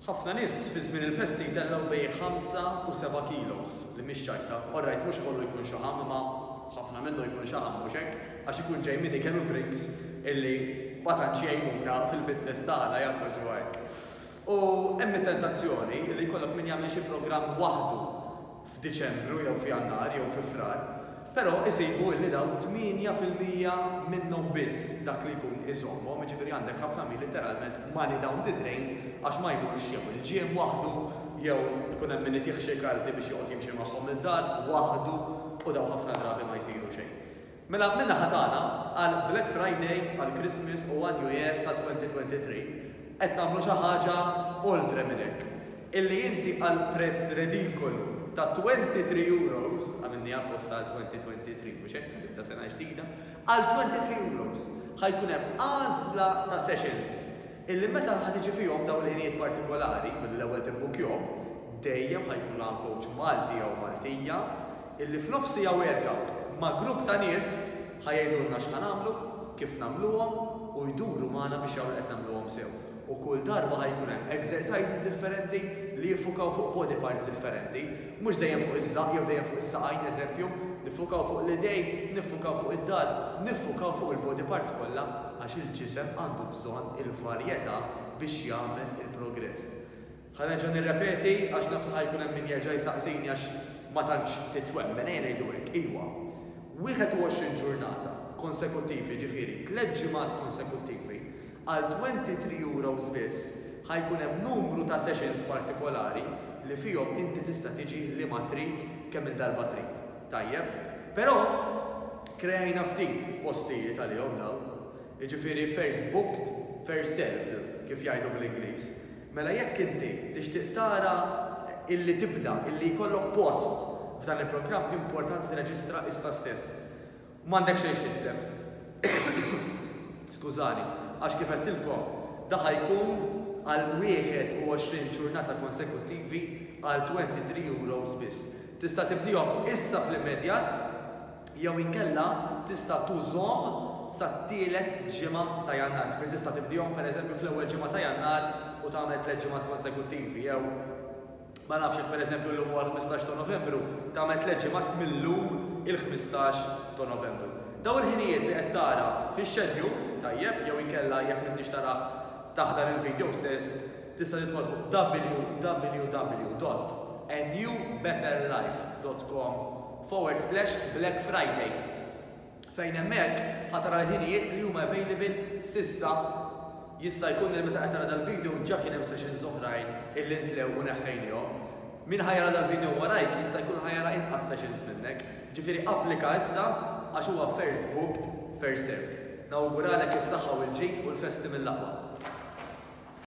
Ħafna nies fi żmien il-festi jtellgħu bejn ħamsa u seba' kilos, li mhix ċajta. Orrajt mhux kollu jkun xaħam imma ħafna minnu jkun xaħam, mhux hekk? Għax ikun ġej minn ikel u drinks illi ma tantx jgħinuna fil-fitness tagħna, jaqblu ġewwa hekk. U hemm it-tentazzjoni illi jkollok min jagħmel xi programm waħdu f'Diċembru jew f'Jannar jew fi Frar, però isibu illi dawn tmienja fil-mija minnhom biss dak li jkun iżommhom, jiġifieri għandek ħafna min litteralment money down the drain għax ma jmurx jew il-gym waħdu jew ikun hemm min itih xi karti biex joqgħod jimxi magħhom id-dar waħdu u dawn ħafna drabi ma jsiru xejn. Mela min-naħa tagħna, għal Black Friday, għal Christmas u għal New Year ta' 2023, qed nagħmlu xi ħaġa oltre minn hekk. Illi inti għal prezz redikolu ta' 23 euros, għamilniha apposta għal 2023 mhux hekk, tibda sena ġdida, għal 23 euros ħa jkun hemm għażla ta' sessions Illi meta ħa tiġi fihom dawn il-ħinijiet partikolari, billi l-ewwel tibbukkjhom, dejjem ħa jkun hawn kowċ Malti jew Maltija, illi f'nofs siegħa workout ma' grupp ta' nies ħa jgħidulna x'ħa nagħmlu, kif nagħmluhom u jduru magħna biex jaraw li qed nagħmluhom sew. U kull darba ħa jkun hemm exercises differenti li jiffukaw fuq body parts differenti, mhux dejjem fuq iż-żaqq jew dejjem fuq is-saqajn, eżempju, niffukaw fuq l-idejn, niffukaw fuq id-dahar, niffukaw fuq il-body parts kollha għax il-ġisem għandu bżonn il-varjetà biex jagħmel il-progress. Ħa nerġa' nirrepeti għax naf li ħa jkun hemm min jerġa' jsaqsini għax ma tantx titwemmen, ejja ngħidu hekk, iwa, 21 ġurnata konsekuttivi, jiġifieri tliet ġimgħat konsekuttivi, għal 23 euros biss, ħa jkun hemm numru ta' sessions partikolari li fihom inti tista' tiġi liema trid, kemm-il darba trid. Tajjeb. Però, kreajna ftit postijiet għalihom dawn. jiġifieri first booked, first served kif jgħidu bl-Ingliż, mela jekk inti tixtieq tara illi tibda, illi jkollok post f'dan il-programm importanti tirreġistra issa stess. M'għandek xejn x'titlef. Skużani, għax kif għedtilkom, da ħa jkun għal 21 ġurnata konsekuttivi għal 23 euros biss. Tista' tibdihom issa fl-immedjat. jew inkella tista' tużhom sat-tielet ġimgħa ta' Jannar. Ġifieri tista' tibdihom pereżempju fl-ewwel ġimgħa ta' Jannar u tagħmel tliet ġimgħat konsekuttivi jew ma nafx jekk pereżempju llum huwa l-ħmistax ta' Novembru, tagħmel tliet ġimgħat mil-lum il-ħmistax ta' Novembru. Dawn il-ħinijiet li qed tara fix-schedule, tajjeb, jew inkella jekk m'intix tarah taħt dan il-video stess, tista' tidħol fuq www.anewbetterlife.com forward slash black friday fejn hemmhekk ħa tara l-ħinijiet li huma available s'issa jista' jkun li meta qed tara dal-video ġa kien hemm sessions oħrajn illi ntlew u neħħejnihom min ħa jara dal-video warajk jista' jkun ħa jara inqas sessions minnek ġifieri applika issa għax huwa first booked first served nawguralek is-saħħa u l-ġid u l-festi mill-aqwa.